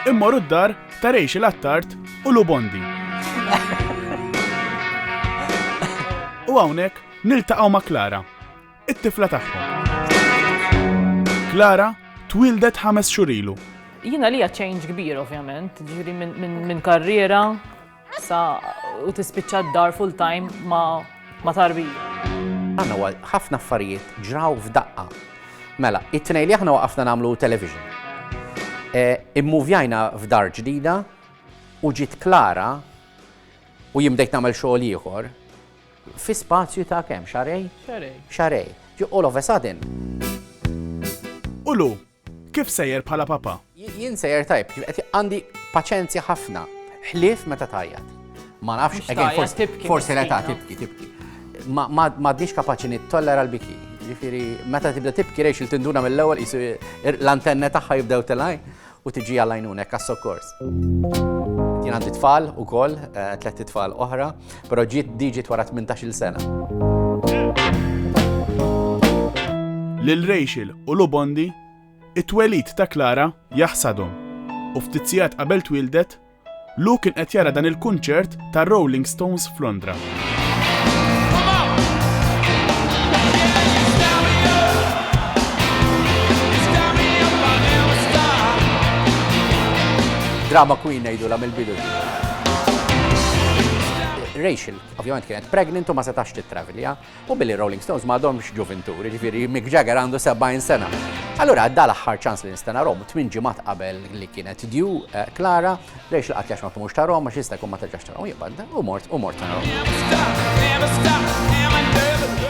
Immorru d-dar ta' Rejx il-Attart u Lubondi. U hawnhekk niltaqgħu ma' Klara, it-tifla tagħhom. Klara twildet ħames xurilu. Jina li ċejnġ kbir ovvjament, ġiri minn karriera Sa u tispiċċa d-dar full time ma, ma tarbija. Għanna għal ħafna affarijiet ġraw f'daqqa. Mela, it-tnej li aħna waqafna namlu television. E, immuvjajna f'dar ġdida u ġiet klara u jimdejt namel xogħol ieħor fi spazju ta' kemm xarej? Xarej. Xarej. U all of a sudden. Ulu, Kif sejjer bħala papa? Jien sejjer tajb, qed għandi paċenzja ħafna, ħlief meta tajjat. Ma nafx, forsi l-età tibki, tibki. Ma għadniex kapaċi nittollera l-biki. Ġifiri, meta tibda tibki rejx il-tinduna mill-ewwel jisu l-antenna tagħha jibdew telaj u tiġi għallajnunek għas-sokkors. Jien għandi tfal ukoll, eh, tletti tfal oħra. Però ġiet diġit wara 18-il sena. Lil Rachel u Lubondi, it-twelid ta' Clara jaħsadhom u ftit sigħat qabel twildet, Lu kien qed jara dan il-kunċert ta' Rolling Stones f'Londra. Drama Queen ngħidulha mill-bidu. Rachel ovvjament kienet pregnant u ma setax tittravilja u billi Rolling Stones ma għadhomx ġuvinturi, ġifieri Mick Jagger għandu 70 sena. Allura għadda l-aħħar ċans li nista' narhom, tmien ġimgħat qabel li kienet dju eh, Clara, Rachel qatt jax ma kumux tarhom għax jista' jkun ma terġax tarhom jibgħad u mort u mort tarhom.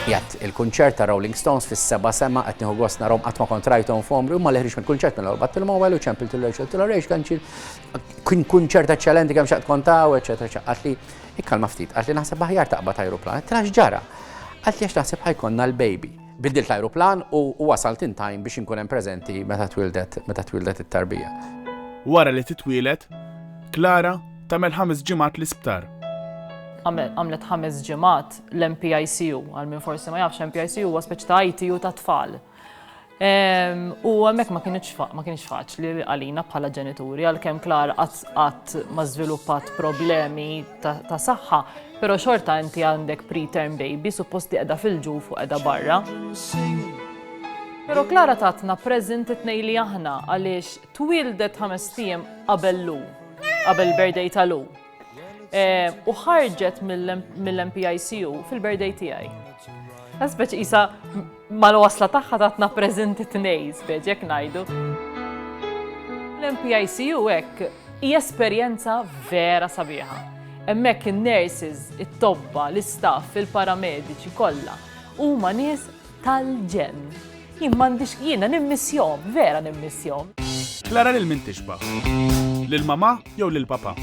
Jgħat il-kunċert ta' Rolling Stones fis-seba' sema qed nieħu gost narhom qatt ma kontrajthom f'omri u ma leħrix mill-kunċert mill-ewwel battil mowel u ċempil til Rachel til Rachel kanċil Kien kun ċert eċċellenti kemm xaqt kontaw, eċċetera, eċċetera. Għatli, ikkalma ftit, għatli naħseb aħjar taqbad ajruplan. Trax ġara. Għatli għax naħseb ħajkonna l-baby. Biddilt l-ajruplan u wasalt in time biex inkun hemm preżenti meta twildet meta twildet it-tarbija. Wara li titwielet, Klara tagħmel ħames ġimgħat l-isptar. Għamlet ħames ġimgħat l-MPICU, għal min forsi ma jafx MPICU huwa speċi ta' ITU ta' tfal. U hemmhekk ma kienx ma kienx faċli għalina bħala ġenituri għalkemm Klar qatt ma żviluppat problemi ta' saħħa, però xorta inti għandek preterm baby suppost li qiegħda fil-ġuf u qiegħda barra. Pero Klara tatna prezent it-nej li aħna għaliex twildet ħames tiem qabel lu, qabel birthday ta' lu. Eh, u ħarġet mill-MPICU fil-birthday tiegħi. Għasbeċ isa mal-wasla tagħha tatna preżenti tnej, speċ jekk ngħidu. L-MPICU hekk hi esperjenza vera sabiħa. Hemmhekk in-nurses, it-tobba, l-istaff, il-paramediċi kollha huma nies tal-ġenn. Jien m'għandix jiena nimmissjom, vera nimmissjom. Klara lil min tixbah? Lil mamà jew lil papà?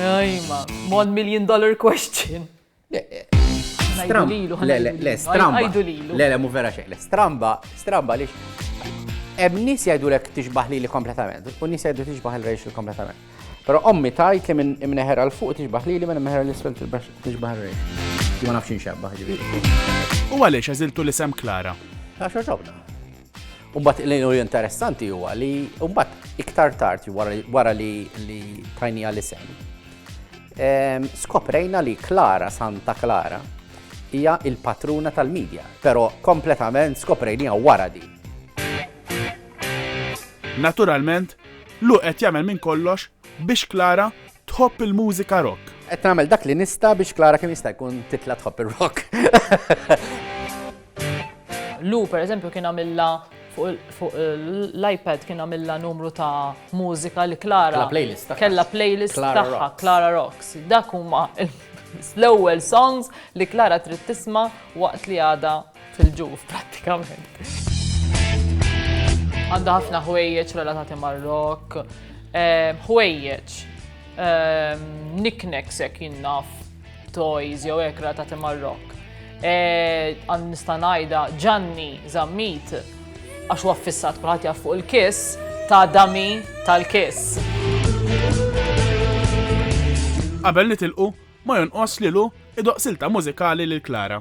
Ajma, one million dollar question. Stram. Le, le, le, stramba. Le, le, mu vera xejn. Le, stramba, stramba li. Hemm nies jgħidulek tixbaħ li kompletament, u nies jgħidu tixbaħ il-rejx kompletament. Però ommi tgħid li minn imneħer għal fuq tixbaħ lili minn imneħer l-isfel tixbaħ rej. Ma nafx inxabbaħ ġifieri. U għaliex għażiltu l-isem Klara? Għax ġobna. Umbat l-inu interessanti huwa li umbat iktar tard wara li li tajni għal-isem. Skoprejna li Klara Santa Klara hija il-patruna tal-medja, pero kompletament skoprejnija wara di. Naturalment, Lou qed jagħmel minn kollox biex Clara tħobb il-mużika rock. Qed nagħmel dak li nista' biex Clara kemm jista' jkun titla' tħobb ir-rock. Lou pereżempju kien għamilha fuq l-iPad kien għamilha numru ta' mużika li Clara kella playlist tagħha Clara Rocks. Dak huma l-ewwel songs li Clara trid tisma' waqt li għada fil-ġuf prattikament. Għandha ħafna ħwejjeġ relatati mar-rock, ehm, ħwejjeġ, ehm, knick-knacks hekk jinnaf, toys jew hekk relatati mar-rock. Eh, għand nista' ngħidha Ġanni Zammit għax huwa fissat kulħadd jaf fuq il-kiss ta' dami tal-kiss. Qabel nitilqu, ma jonqos lilu idoqsilta mużikali lil Klara.